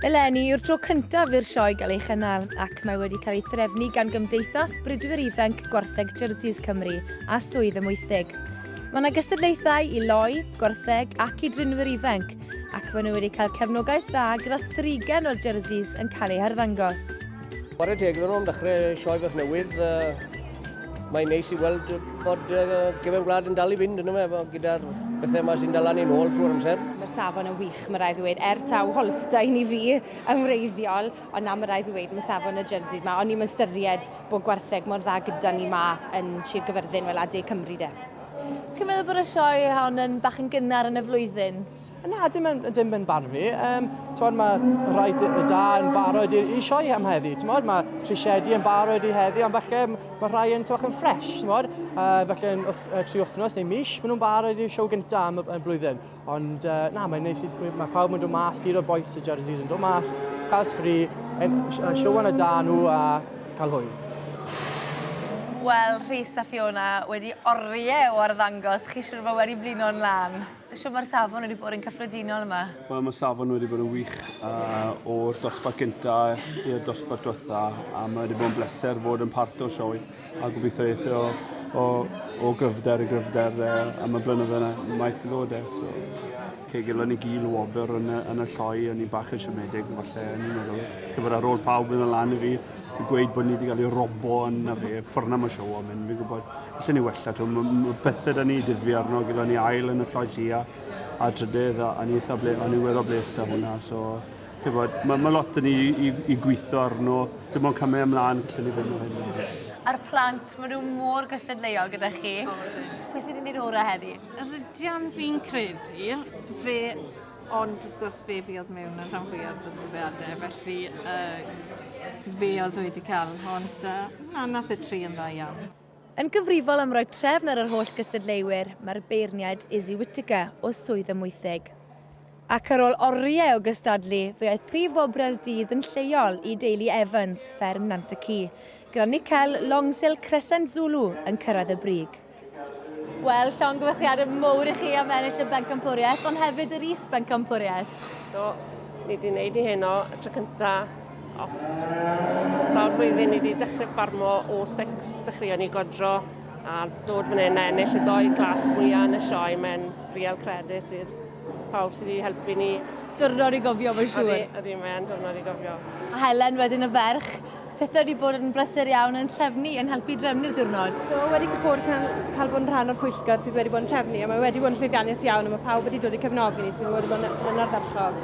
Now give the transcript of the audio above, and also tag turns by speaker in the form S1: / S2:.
S1: Eleni yw'r tro cyntaf i'r sioe gael ei chynnal ac mae wedi cael ei threfnu gan Gymdeithas Bridwyr Ifanc Gwartheg Jerseys Cymru a Swydd y Mwythig. Mae yna gystadlaethau i loi, gwartheg ac i drinwyr ifanc ac maen nhw wedi cael cefnogaeth dda gyda thrigen o'r jerseys yn cael eu harddangos. Chwarae teg iddyn nhw am ddechrau sioe fach newydd. Mae'n neis i weld bod uh, gefn gwlad yn dal i fynd yn yma efo gyda'r bethau yma sy'n dal ni'n ôl trwy'r amser. Mae'r safon yn wych, mae rhaid i ddweud, er taw Holstein i fi yn wreiddiol, ond na mae rhaid i ddweud, mae safon y jerseys yma, ond ni'n ystyried bod gwartheg mor dda gyda ni yma yn Sir Gyfyrddin, wel, a de Cymru de. Chi'n meddwl bod y sioe hon yn bach yn gynnar yn y flwyddyn? Na, dim yn, dim yn barn fi. Um, Tywed, mae rhai da yn barod i, i sioe am heddi. Tywed, mae trisiedi yn barod i heddi, ond felly mae rhai yn tywed, yn ffres. Tywed, uh, felly yn wth, uh, tri wythnos neu mis, maen nhw'n barod i'r sioe gyntaf am y blwyddyn. Ond uh, na, mae'n neis i, mae pawb yn dod mas, gyd o'r boes y jerseys yn dod mas, cael sbri, sioe yn y da nhw a cael hwyl. Wel, Rhys a Fiona wedi oriau o arddangos, chi siwr fod wedi blino'n lan? Shwt mae'r safon wedi bod yn cyffredinol yma? Wel, mae safon wedi bod yn wych uh, o'r dosbarth gyntaf i'r dosbarth diwetha a mae wedi bod yn bleser fod yn part o'r sioe a gobeithio eithio o, o gryfder i gryfder uh, am y blynyddoedd yna maeth i ddod e. So, cegil yn y gil o wobr yn y, yn y lloi, o'n i'n bach yn siomedig, falle o'n i'n meddwl, cyfer ar ôl pawb yn y lan i fi, i gweud bod ni wedi cael ei robo yn y fe, ffyrna mae siow am hyn, fi'n gwybod. Allen ni wella, t'o' ma' ma' pethe 'da ni dyfu arno gyda ni ail yn y Lloyd Llia a'r trydydd a o'n i itha ble- o'n i weddol blês 'da hwnna so chi wbod ma' ma' lot 'da ni i i i gwitho arno dim ond camu ymlan gallwn ni fyn' o hyn nawr. A'r plant ma' nw mor gystadleuol gyda chi. O ydyn. Pwy sy'n mynd i'r ora' heddi? Yr ydian fi'n credu fe ond wrth gwrs fe fuodd mewn yn rhan fwya o'r disgwyliade felly yy fe oedd wedi ca'l hon da. Na nath y tri yn dda iawn. Yn gyfrifol am roi trefn ar yr holl gystadleuwyr, mae'r beirniaid Izzy Whittaker o Swydd Amwythig. Ac ar ôl oriau o gystadlu, fe aeth prif wobrau'r dydd yn lleol i deulu Evans, fferm Nant y Ci, gyda Nickel Longsil Crescent Zulu yn cyrraedd y brig. Wel, llongyfarchiadau mowr i chi am ennill y bencampwriaeth, ond hefyd yr is-bencampwriaeth. Do, ni wedi gwneud i heno y tro cyntaf. Os sawl flwyddyn ni wedi dechrau ffarmo o six, dechreuon ni godro a dod fan hyn a ennill y doi glas mwyaf yn y sioe. Mae'n real credit i'r pawb sydd wedi helpu ni. Diwrnod i gofio mae'n siŵr. Ydy, ydy, mae'n diwrnod i gofio. A Helen wedyn y ferch. Tithe wedi bod yn brysur iawn yn trefnu, yn helpu drefnu'r diwrnod. So, wedi bod cael, cael bod yn rhan o'r pwyllgor sydd wedi bod yn trefnu a mae wedi bod yn llwyddiannus iawn a mae pawb wedi dod i cefnogi ni sydd wedi bod yn, yn ardderchog.